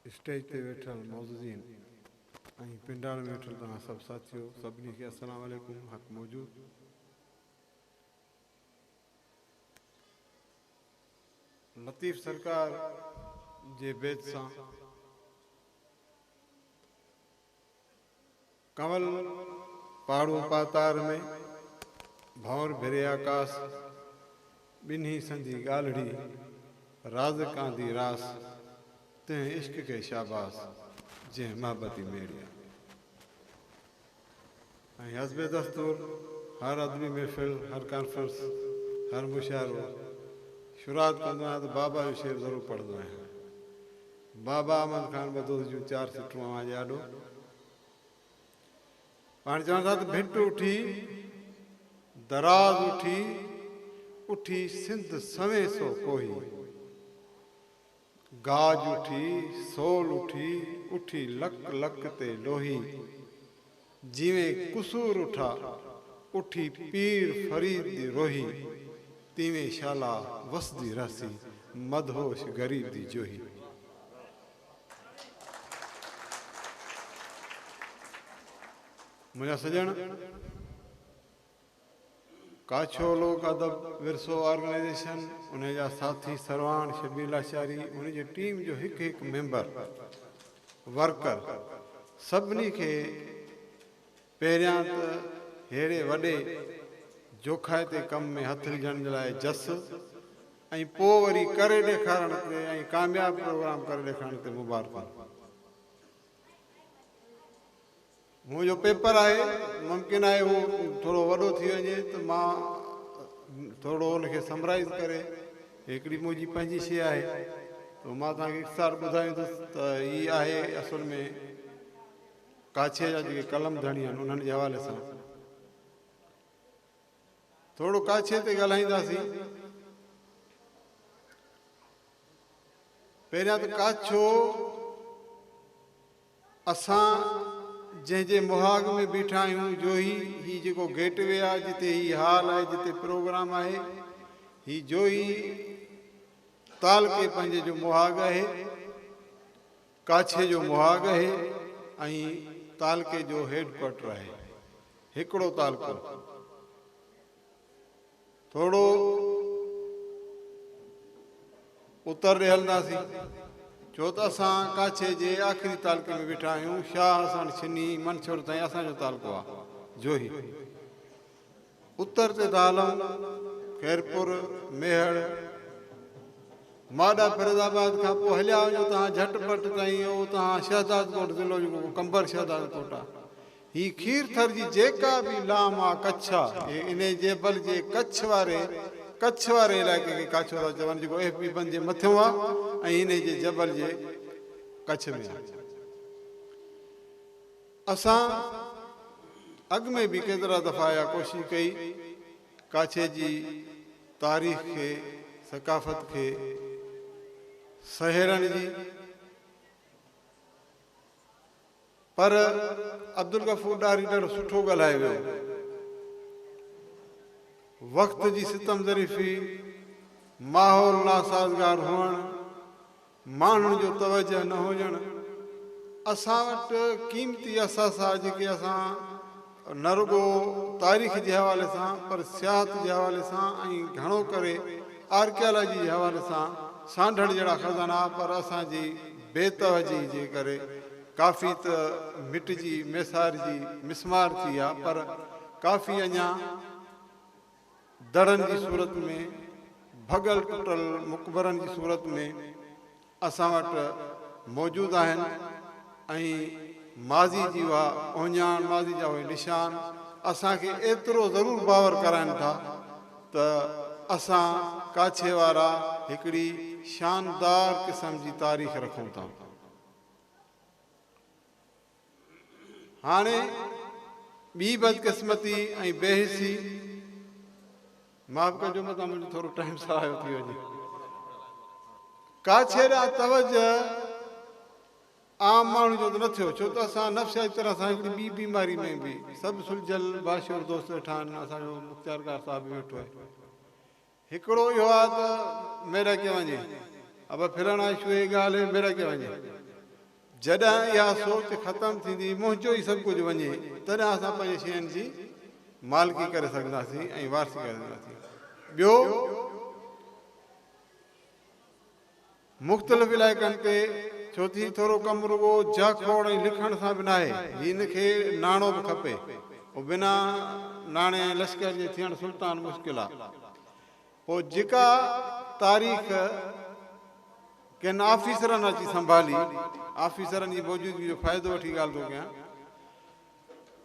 Stage تي ويٺل معززين ۽ پنڊال ۾ ويٺل توهان سڀ ساٿيو سڀني کي السلام عليڪم حق موجود لطيف سرڪار جي بيت سان. ڪنول پاڙون پاتار ۾، ڀنور ڀري آڪاس. ٻنهي سندي ڳالهڙي، راز ڪاندي راس. تنهن عشق کي شاباس، جنهن محبتي ميڙي آ. ۽ حسب دستور هر ادبي محفل، هر ڪانفرنس، هر مشاعرو شروعات ڪندو آهيان ته بابا جو شعر ضرور پڙهندو آهيان. بابا احمد خان بدوس جون چار سٽون اوهان جي آڏو. پاڻ چون ٿا ته ڀٽ اٺي دراز اٺي اٺي سنڌ سوين سو ڪوهي گاج اٺي سول اٺي اٺي لڪ لڪ تي لوهي جيوين قصور اٺا اٺي پير فريد دي روهي تيوين شالا وسدي رهسي مدهوش غريب دي جوهي. منهنجا سڄڻ، ڪاڇو لوڪ ادب ورثو آرگنائيزيشن انهي جا ساٿي سرواڻ شبير لاشاري انهي جي ٽيم جو هڪ هڪ ميمبر، ورڪر سڀني کي پهريان ته ههڙي وڏي جوکائتي ڪم ۾ هٿ وجهڻ جي لاء جس ۽ پوء وري ڪري ڏيکارڻ تي ۽ ڪامياب پروگرام ڪري ڏيکارڻ تي مبارڪون. هونء جو پيپر آهي ممڪن آهي هو ٿورو وڏو ٿي وڃي ته مان ٿورڙو ان کي سمرائيز ڪري هڪڙي منهنجي پنهنجي شيء آهي ته مان توهان کي اختصار ٻڌايوندس ته هي آهي اصل ۾ ڪاڇي جا جيڪي قلم ڌڻي آهن انهن جي حوالي سان ٿورو ڪاڇي تي ڳالهائينداسين. پهريان ته ڪاڇو اسان جنهن جي مهاڳ ۾ بيٺا آهيون جوهي هي جيڪو گيٽ وي آهي جتي هي هال آهي جتي پروگرام آهي هي جوهي تعلقي پنهنجي جو مهاڳ آهي ڪاڇي جو مهاڳ اهي ۽ تعلقي جو هيڊ ڪوارٽر آهي. هڪڙو تعلقو ٿورو اتر ڏي هلنداسين ڇو ته اسان ڪاڇي جي آخري تعلقي ۾ ويٺا آهيون، شاهه اساڻ ڇني منڇور تائين اسان جو تعلقو آهي. جوهي. اتر تي دالون، خيرپور، ميهڙ، ماڏا فيروز آباد کان پوء هليا وڃو تان جهٽ پٽ تائين اهو اتان شهدادڪوٽ ضلعو جيڪو ڪو قمبر شهدادڪوٽ آ هي کير ٿر جي جيڪا به لام آ ڪڇ آ اهي انهي جيبل جي ڪڇ واري ڪڇ واري علائقي کي ڪاڇو ٿا چون جيڪو ايف بي بند جي مٿيون آ ۽ انهي جي جبل جي ڪڇ ۾ آ. اسان اڳ ۾ به ڪيترا دفعا اها ڪوشش ڪئي ڪاڇي جي تاريخ کي ثقافت کي سهيڙڻ جي پر عبدالغفور ڏاهري ڏاڍو سٺو ڳالهائي ويو وقت جي ستم ظريفي ماحول ناسازگار هئڻ ماڻهن جو توجهه نه هجڻ، اسان وٽ قيمتي اثاثا جيڪي اسان نه رڳو تاريخ جي حوالي سان پر سياحت جي حوالي سان ۽ گهڻو ڪري آرڪيالاجي جي حوالي سان سانڍڻ جهڙا خزانا پر اسان جي بي توجهي جي ڪري ڪافي ته مٽجي ميسارجي مسمار ٿي ويا پر ڪافي اڃان دڙن جي صورت ۾، ڀڳل ٽٽل مقبرن جي صورت ۾، اسان وٽ موجود آهن ۽ ماضي جي اها اهڃاڻ، ماضي جا اهي نشان اسان کي ايترو ضرور باور ڪرائين ٿا ته اسان ڪاڇي وارا هڪڙي شاندار قسم جي تاريخ رکون ٿا. هاڻي ٻي بدقسمتي ۽ بي حسي معاف ڪجو متان منهنجو ٿورو ٽائيم سرايو ٿي وڃي ڪاڇي ڏانهن توجه عام ماڻهو جو ته نه ٿيو ڇو ته اسان نفسياتي طرح سان هڪڙي ٻي بيماري ۾ به سڀ سلجھيل باشعور دوست ويٺا آهن اسان جو مختيارڪار صاحب به ويٺو آهي هڪڙو اهو آ ته ميرڪي وڃي ابا ڦرڻ آهي شو هي ڳالهه هي ميرڪي وڃي جڏهن اها سوچ ختم ٿيندي منهنجو ئي سڀ ڪجهه وڃي تڏهن اسان پنهنجي شين جي مالڪي ڪري سگهنداسين ۽ وارثي ڪري سگهنداسين ٻيو مختلف علائقن تي ٿيو ٿي ٿورو ڪم رڳو جهه کوڙ ۽ لکڻ سان به ناهي هن کي ناڻو به کپي پو بنا ناڻي ۽ لشڪر جي ٿيڻ سلطان مشڪل آ پو جيڪا تاريخ ڪن آفيسرن اچي سنڀالي آفيسرن جي موجودگي جو فائدو وٺي ڳالھ ٿو ڪيان.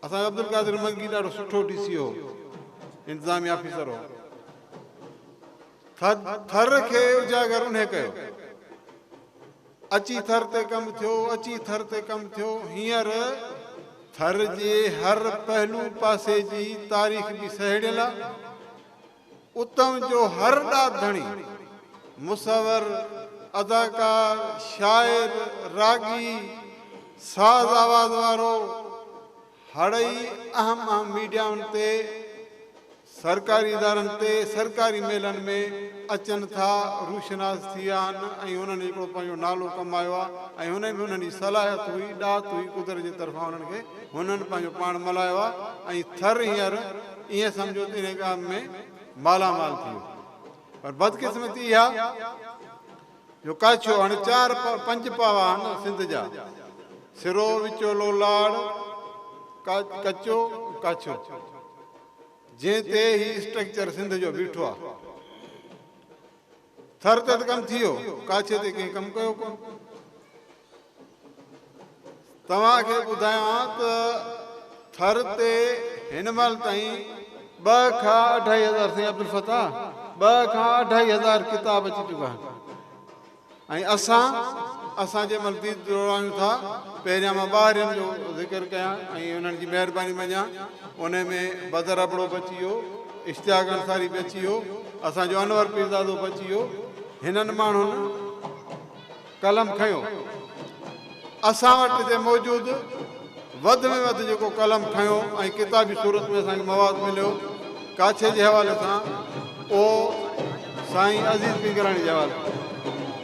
اسان جو عبدالقادر منگي ڏاڍو سٺو ڊي سي هو انتظامي آفيسر هو ٿر ٿر کي اجاگر انهي ڪيو اچي ٿر تي ڪم ٿيو اچي ٿر تي ڪم ٿيو هينئر ٿر جي هر پهلو پاسي جي تاريخ به سهيڙيل آهي اتم جو هر ڏات ڌڻي، مصور، اداڪار، شاعر، راڳي، ساز آواز وارو، هڙئي اهم اهم ميڊيائن تي، سرڪاري ادارن تي، سرڪاري ميلن ۾ اچن ٿا، روشناس ٿي ويا آهن ۽ هنن هڪڙو پنهنجو نالو ڪمايو آهي ۽ هن ۾ هنن جي صلاحيت هئي، ڏات هئي قدرت جي طرفان هنن کي، هنن پنهنجو پاڻ ملهايو آهي ۽ ٿر هينئر. ائين سمجهو ته انهيء ڪام ۾ مالا مال ٿي ويو. پر بدقسمتي اها جو ڪاڇو هڻ چار پنج پاوا هڻ سنڌ جا، سرو، وچولو، لاڙ، ڪچو، ڪاڇو، جنهن تي هي اسٽرڪچر سنڌ جو بيٺو آهي. ٿر تي ته ڪم ٿيو، ڪاڇي تي ڪنهن ڪم ڪيو ڪونه. توهان کي ٻڌايان ته ٿر تي هن مهل تائين ٻه کان اڍائي هزار سائين عبدالفتاح ٻه کان اڍائي هزار ڪتاب اچي چڪا آهن ۽ اسان اسان جي مهل ديد جوڙايون ٿا پهريان مان ٻاهرين جو ذڪر ڪيان ۽ انهن جي مهرباني مڃان ان ۾ بدر ابڙو به اچي ويو اشتياق انصاري به اچي ويو، اسان جو انور پيرزادو به اچي ويو، هنن ماڻهن قلم کنيو. اسان وٽ هتي موجود وڌ ۾ وڌ جيڪو قلم کنيو ۽ ڪتابي صورت ۾ اسان کي مواد مليو ڪاڇي جي حوالي سان اهو سائين عزيز پنگراڻي جي حوالي سان.